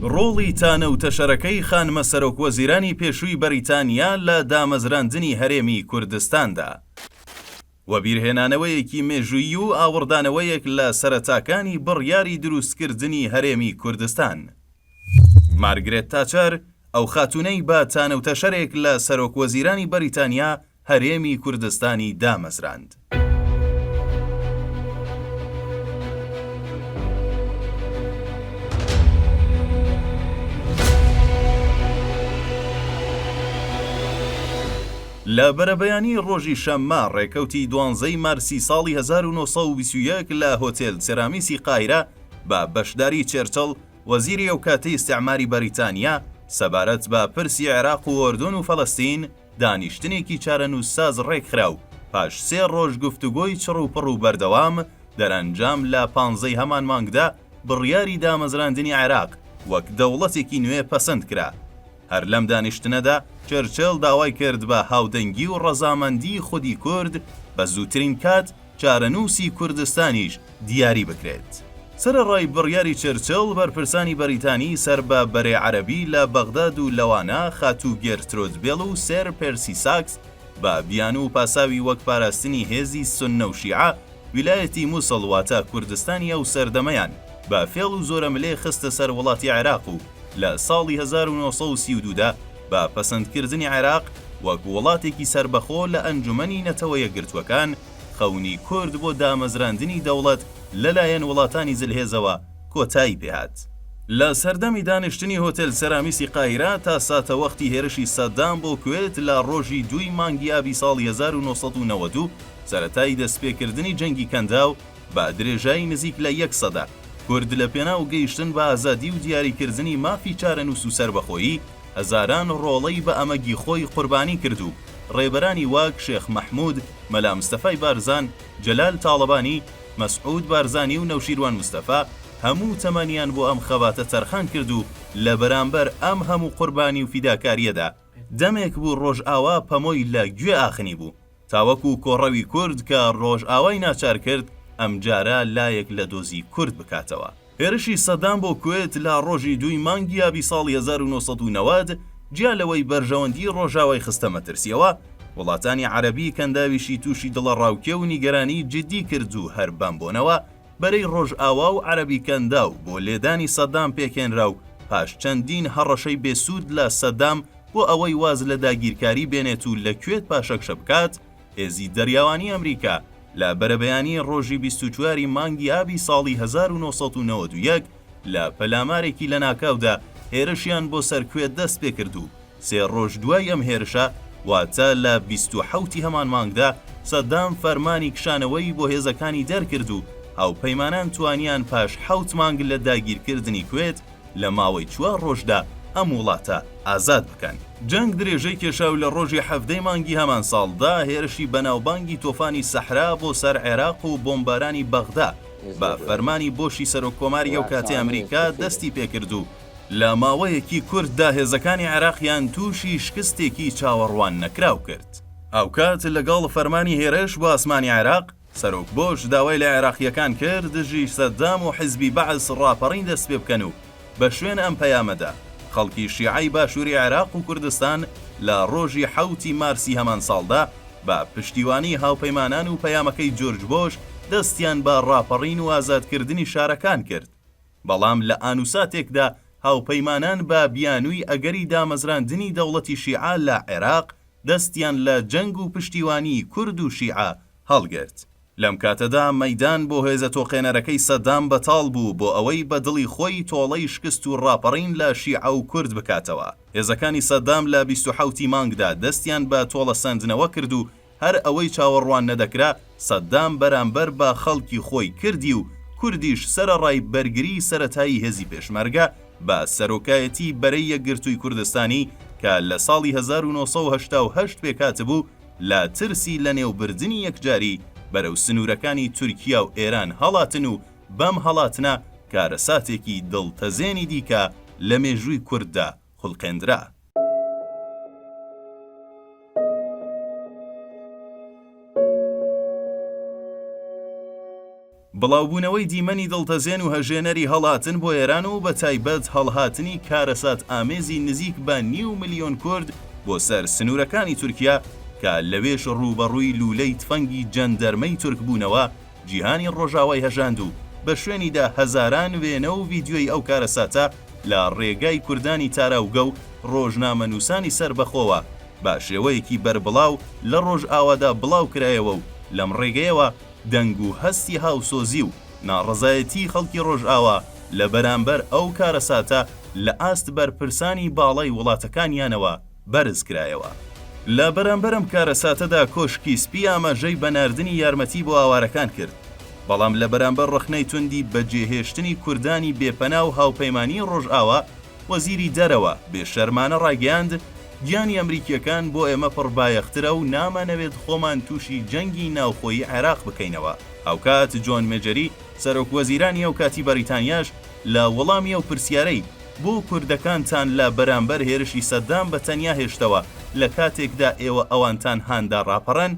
ڕۆڵی تانە و تەشەرەکەی خانمە سەرۆکوەزیرانی پێشووی بەریتانیا لە دامەزراندنی هەرێمی کوردستاندا، وەبیرهێنانەوەیەکی مێژوویی و ئاوڕدانەوەیەک لە سەرەتاکانی بڕیاری دروستکردنی هەرێمی کوردستان. مارگرێت تاچەر، ئەو خاتوونەی بە تانە و تەشەرێک لە سەرۆکوەزیرانی بەریتانیا، هەرێمی کوردستانی دامەزراند. لە بەرەبەیانی ڕۆژی شەممە ڕێکەوتی دوانزەی مارسی ساڵی هەزار و نۆ سەد و بیست و یەک لە هۆتێل سێرامیسی قاهیرە بە بەشداری چێرچڵ وەزیری ئەوکاتی ئیستیعماری بەریتانیا سەبارەت بە پرسی عێراق و ئۆردون و فەلەستین دانیشتنێکی چارەنووسساز ڕێکخرا و پاش سێ ڕۆژ گفتوگۆی چڕوپڕ و بەردەوام، دەرەنجام لە پانزە ی هەمان مانگدا بڕیاری دامەزراندنی عێراق وەک دەوڵەتێکی نوێ پەسەند کرا. هەر لەم دانیشتنەدا چرچل داوای کرد بە هاودەنگی و ڕەزامەندیی خودی کورد بە زووترین کات، چارەنووسی کوردستانیش دیاری بکرێت. سەرەڕای بڕیاری چرچڵ، بەرپرسانی بەریتانی سەر بە بەرەی عەرەبی لە بەغداد و لەوانە خاتوو گێرترود بێڵ و سێر پێرسی ساکس بە بیانوو و پاساوی وەک پاراستنی هێزی سوننە و شیعە، ویلایەتی موسڵ واتە کوردستانی ئەو سەردەمەیان بە فێڵ و زۆرەملێ خستە سەر وڵاتی عێراق و لە ساڵی هەزار و نۆ سەد و سی و دوو دا بە پەسەندکردنی عێراق وەک وڵاتێکی سەربەخۆ لە ئەنجومەنی نەتەوە یەکگرتووەکان، خەونی کورد بۆ دامەزراندنی دەوڵەت لەلایەن وڵاتانی زلهێزەوە کۆتایی پێهات. لە سەردەمی دانیشتنی هۆتێل سەرامیسی قاهیرە تا ساتەوەختی هێرشی سەدام بۆ کوێت لە ڕۆژی دووی مانگی ئابی ساڵی هەزار و نۆ سەد و نەوەد و سەرەتای دەستپێکردنی جەنگی کەنداو، بە درێژایی نزیک لە یەک سەدە، کورد لە پێناو گەیشتن بە ئازادی و دیاریکردنی مافی چارەنووس و سەربەخۆیی، هەزاران ڕۆڵەی بە ئەمەگی خۆی قوربانی کرد و ڕێبەرانی وەک شێخ مەحموود، مەلا مستەفای بارزان، جەلال تاڵەبانی، مەسعوود بارزانی و نەوشیروان مستەفا هەموو تەمەنیان بۆ ئەم خەباتە تەرخان کرد و لە بەرامبەر ئەم هەموو قوربانی و فیداکارییەدا، دەمێک بوو ڕۆژئاوا پەمۆی لە گوێ ئاخنی بوو تاوەکو کۆڕەوی کورد کە ڕۆژئاوای ناچار کرد ئەمجارە لایەک لە دۆزی کورد بکاتەوە. هێرشی سەدام بۆ کوێت لە ڕۆژی دووی مانگی ئابی ساڵی هەزار و نۆ سەد و نەوەد جیا لەوەی بەرژەوەندی ڕۆژئاوای خستە مەترسیەوە، وڵاتانی عەرەبی کەنداویشی تووشی دڵەڕاوکێ و نیگەرانی جیددی کرد و هەر بەم بۆنەوە بەرەی ڕۆژئاوا و عەرەبی کەنداو بۆ لێدانی سەدام پێکهێنرا و پاش چەندین هەڕەشەی بێ سوود لە سەدام بۆ ئەوەی واز لە داگیرکاری بێنێت و لە کوێت پاشەکشە بکات، هێزی دەریاوانی ئەمریکا لە بەرەبەیانی ڕۆژی بیست و چوار ی مانگی ئابی ساڵی هەزار و نۆ سەد و نەوەد و یەک، لە پەلامارێکی لەناکاودا هێرشیان بۆ سەر کوێت دەست پێکرد و سێ ڕۆژ دوای ئەم هێرشە، واتە لە بیست و حەوت ی هەمان مانگدا، سەدام فەرمانی کشانەوەی بۆ هێزەکانی دەرکرد و هاوپەیمانان توانیان پاش حەوت مانگ لە داگیرکردنی کوێت لە ماوەی چوار ڕۆژدا ئەم وڵاتە ئازاد بکەن. جەنگ درێژەی کێشا و لە ڕۆژی حەڤدە ی مانگی هەمان ساڵدا هێرشی بەناوبانگی تۆفانی سەحرا بۆ سەر عێراق و بۆمبارانی بەغدا، بە فەرمانی بۆشی سەرۆک کۆماری ئەو کاتی ئەمریکا دەستی پێکرد و لە ماوەیەکی کورتدا هێزەکانی عێراقیان تووشی شکستێکی چاوەڕوان نەکراو کرد. هاوکات لەگەڵ فەرمانی هێرش بۆ ئاسمانی عێراق، سەرۆک بۆش داوای لە عێراقییەکان کرد دژی سەدام و حیزبی بەعس ڕاپەڕین دەستپێبکەن و بە شوێن ئەم پەیامەدا، خەڵکی شیعەی باشووری عێراق و کوردستان لە ڕۆژی حەوت ی مارسی هەمان ساڵدا بە پشتیوانی هاوپەیمانان و پەیامەکەی جورج بۆش دەستیان بە ڕاپەڕین و ئازادکردنی شارەکان کرد بەڵام لە ئانوساتێکدا هاوپەیمانان بە بیانووی ئەگەری دامەزراندنی دەوڵەتی شیعە لە عێراق دەستیان لە جەنگ و پشتیوانیی کورد و شیعە هەڵگرت. لەم کاتەدا مەیدان بۆ هێزە تۆقێنەرەکەی سەدام بەتاڵ بوو بۆ ئەوەی بە دڵی خۆی تۆڵەی شکست و ڕاپەڕین لە شیعە و کورد بکاتەوە. هێزەکانی سەدام لە بیست و حەوت ی مانگدا دەستیان بە تۆڵەسەندنەوە کرد و هەر ئەوەی چاوەڕوان نەدەکرا سەدام بەرامبەر بە خەڵکی خۆی کردی و کوردیش سەرەڕای بەرگریی سەرەتایی هێزی پێشمەرگە بە سەرۆکایەتیی بەرەی یەکگرتووی کوردستانی کە لە ساڵی هەزار و نۆ سەد و هەشتا و هەشت پێکهاتبوو، لە ترسی لەنێوبردنی یەکجاری بەرەو سنوورەکانی تورکیا و ئێران هەڵاتن و بەم هەڵاتنە کارەساتێکی دڵتەزێنی دیکە لە مێژووی کورددا خولقێندرا. بڵاوبوونەوەی دیمەنی دڵتەزێن و هەژێنەری هەڵاتن بۆ ئێران و بە تایبەت هەڵهاتنی کارەسات ئامێزی نزیک بە نیو ملیۆن کورد بۆ سەر سنوورەکانی تورکیا کە لەوێش ڕووبەڕووی لوولەی تفەنگی جەندەرمەی تورک بوونەوە جیهانی ڕۆژاوای هەژاند و بە شوێنیدا هەزاران وێنە و ڤیدیۆی ئەو کارەساتە لە ڕێگای کوردانی تاراوگە و ڕۆژنامەنووسانی سەربەخۆوە بە شێوەیەکی بەربڵاو لە ڕۆژئاوادا بڵاوکرایەوە و لەم ڕێگەیەوە دەنگ و هەستی هاوسۆزی و ناڕەزایەتیی خەڵکی ڕۆژئاوا لە بەرامبەر ئەو کارەساتە لە ئاست بەرپرسانی باڵای وڵاتەکانیانەوە بەرز کرایەوە. لە بەرامبەر ئەم کارەساتەدا کۆشکی سپی ئاماژەی بە ناردنی یارمەتی بۆ ئاوارەکان کرد، بەڵام لە بەرامبەر ڕەخنەی توندی بەجێهێشتنی کوردانی بێپەنا و هاوپەیمانیی ڕۆژئاوا وەزیری دەرەوە بێ شەرمانە ڕایگەیاند، گیانی ئەمریکییەکان بۆ ئێمە پڕ بایەخترە و نامانەوێت خۆمان تووشی جەنگی ناوخۆیی عێراق بکەینەوە، هاوکات جۆن مێجەری سەرۆک وەزیرانی ئەو کاتی بەریتانیاش لە وەڵامی ئەو پرسیارەی، بۆ کوردەکانتان لە بەرامبەر هێرشی سەدام بە تەنیا هێشتەوە لە کاتێکدا ئێوە ئەوانتان هاندا ڕاپەڕن؟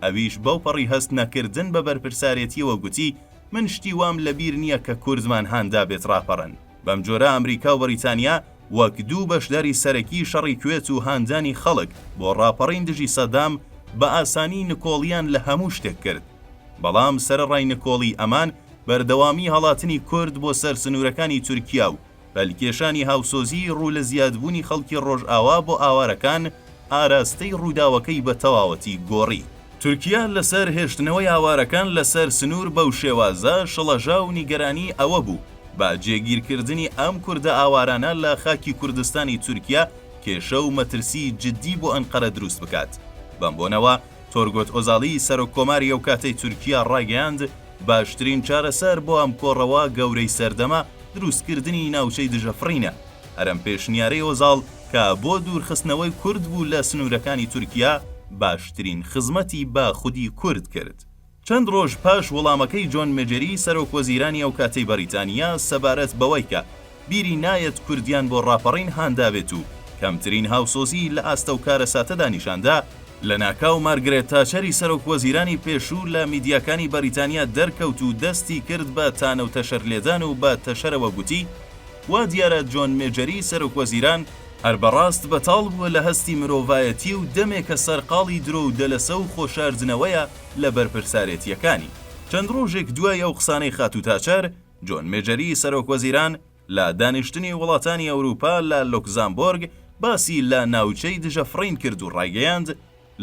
ئەویش بەو پەڕی هەست نەکردن بە بەرپرسارێتیەوە گوتی من شتی وام لە بیر نیە کە کوردمان هان دابێت ڕاپەڕن. بەم جۆرە ئەمریکا و بەڕیتانیا وەک دوو بەشداری سەرەکی شەڕی کوێت و هاندانی خەڵک بۆ ڕاپەڕین دژی سەدام بە ئاسانی نکۆڵیان لە هەموو شتێک کرد. بەڵام سەرەڕای نکۆڵی ئەمان بەردەوامی هەڵاتنی کورد بۆ سەر سنورەکانی تورکیا و پەلکێشانی هاوسۆزیی ڕوو لە زیادبوونی خەڵکی ڕۆژئاوا بۆ ئاوارەکان ئاراستەی ڕووداوەکەی بە تەواوەتی گۆڕی. تورکیا لەسەر هێشتنەوەی ئاوارەکان لەسەر سنوور بەو شێوازە شڵەژا و نیگەرانیی ئەوە بوو با جێگیرکردنی ئەم کوردە ئاوارانە لە خاکی کوردستانی تورکیا کێشە و مەترسیی جددی بۆ ئەنقەرە دروست بکات. بەم بۆنەوە، تۆرگۆت ئۆزالی سەرۆک کۆماری ئەو کاتەی تورکیا ڕایگەیاند، باشترین چارەسەر بۆ ئەم کۆڕەوە گەورەی سەردەمە دروست کردنی ناوچەی دژە فڕینە، هەرەم پێشنیارەی ئۆزاڵ کە بۆ دوور خستنەوەی کورد بوو لە سنوورەکانی تورکیا باشترین خزمەتی بە خودی کورد کرد. چەند ڕۆژ پاش وەڵامەکەی جۆن مەجری سەرۆک وەزیرانی ئەو کاتەی بەڕیتانیا سەبارەت بەوەی کە بیری نایەت کوردیان بۆ ڕاپەڕین هاندابێت و کەمترین هاوسۆزیی لە ئاست ئەو کارەساتەدا نیشان دا، لەناکاو مارگرێت تاچەری سەرۆک وەزیرانی پێشوو لە میدیاکانی بەریتانیا دەرکەوت و دەستی کرد بە تانەو تەشەر لێدان و بە تەشەرەوە گوتی وا دیارە جۆن مەجری سەرۆک وەزیران هەر بەڕاست بەتاڵ بووە لە هەستی مرۆڤایەتی و دەمێکە سەرقاڵی درۆ و دەلەسە و خۆشاردنەوەیە، لە بەرپرسارێتییەکانی. چەند ڕۆژێک دوای ئەو قسانەی خاتوو تاچەر، جۆن مێجەری سەرۆک وەزیران لە دانیشتنی وڵاتانی ئەوروپا لە لۆکزامبۆرگ باسی لە ناوچەی دژە فڕین کرد و ڕایگەیاند،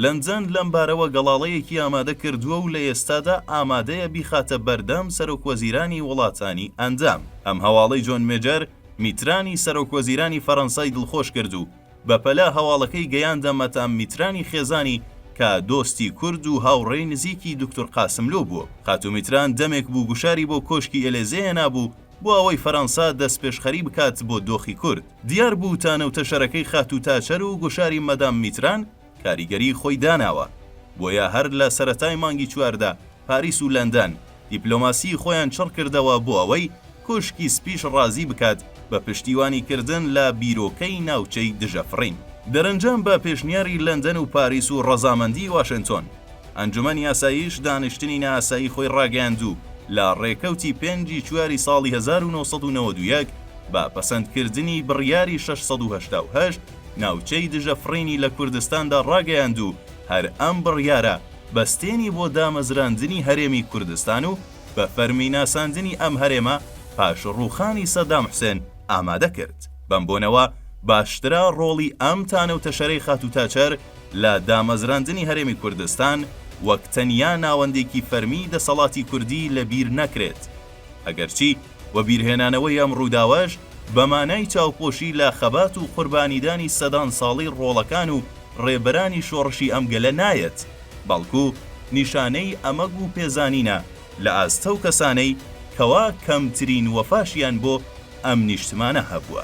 لەندەن لەم بارەوە گەڵاڵەیەکی ئامادە کردووە و لە ئێستادا ئامادەیە بیخاتە بەردەم سەرۆک وەزیرانی وڵاتانی ئەندام. ئەم هەواڵەی جۆن مێجەر، میترانی سەرۆک وەزیرانی فەرەنسای دڵخۆش کرد و بەپەلە هەواڵەکەی گەیاندە مەتام میترانی خێزانی کە دۆستی کورد و هاوڕێی نزیکی دوکتور قاسملوو بووە. خاتوو میتران دەمێک بوو گوشاری بۆ کۆشکی ئێلێزێ هێنابوو بۆ ئەوەی فەرەنسا دەستپێشخەری بکات بۆ دۆخی کورد. دیار بوو تانە و تەشەرەکەی خاتوو تاچەر و گوشاری مەدام میتران، کاریگەری خۆی داناوە، بۆیە هەر لە سەرەتای مانگی چواردا پاریس و لەندەن دیپلۆماسی خۆیان چڕ کردەوە بۆ ئەوەی کۆشکی سپیش ڕازی بکات بە پشتیوانی کردن لە بیرۆکەی ناوچەی دژە فڕین. دەرەنجام بە پێشنیاری لەندەن و پاریس و ڕەزامەندی واشنتۆن، ئەنجومەنی ئاسایش دانیشتنی نائاسایی خۆی ڕاگەیاند و لە ڕێکەوتی پێنج ی چواری ساڵی هەزار و نۆ سەد و نەوەد و یەک بە پەسەند کردنی بڕیاری شەش سەد و هەشتا و هەشت، ناوچەی دژە فڕینی لە کوردستاندا ڕاگەیاند و هەر ئەم بڕیارە بەستێنی بۆ دامەزراندنی هەرێمی کوردستان و بە فەرمی ناساندنی ئەم هەرێمە پاش ڕووخانی سەدام حوسێن ئامادە کرد. بەم بۆنەوە باشترا ڕۆڵی ئەم تانە و تەشەرەی خاتوو تاچەر لە دامەزراندنی هەرێمی کوردستان وەک تەنیا ناوەندێکی فەرمیی دەسەڵاتی کوردی لە بیر نەکرێت. ئەگەرچی وەبیرهێنانەوەی ئەم ڕووداوەش بە مانای چاوپۆشی لە خەبات و قوربانیدانی سەدان ساڵەی ڕۆڵەکان و ڕێبەرانی شۆڕشی ئەم گەلە نایەت، بەڵکو نیشانەی ئەمەگ و پێزانینە لە ئاست ئەو کەسانەی کەوا کەمترین وەفاشیان بۆ ئەم نیشتمانە هەبووە.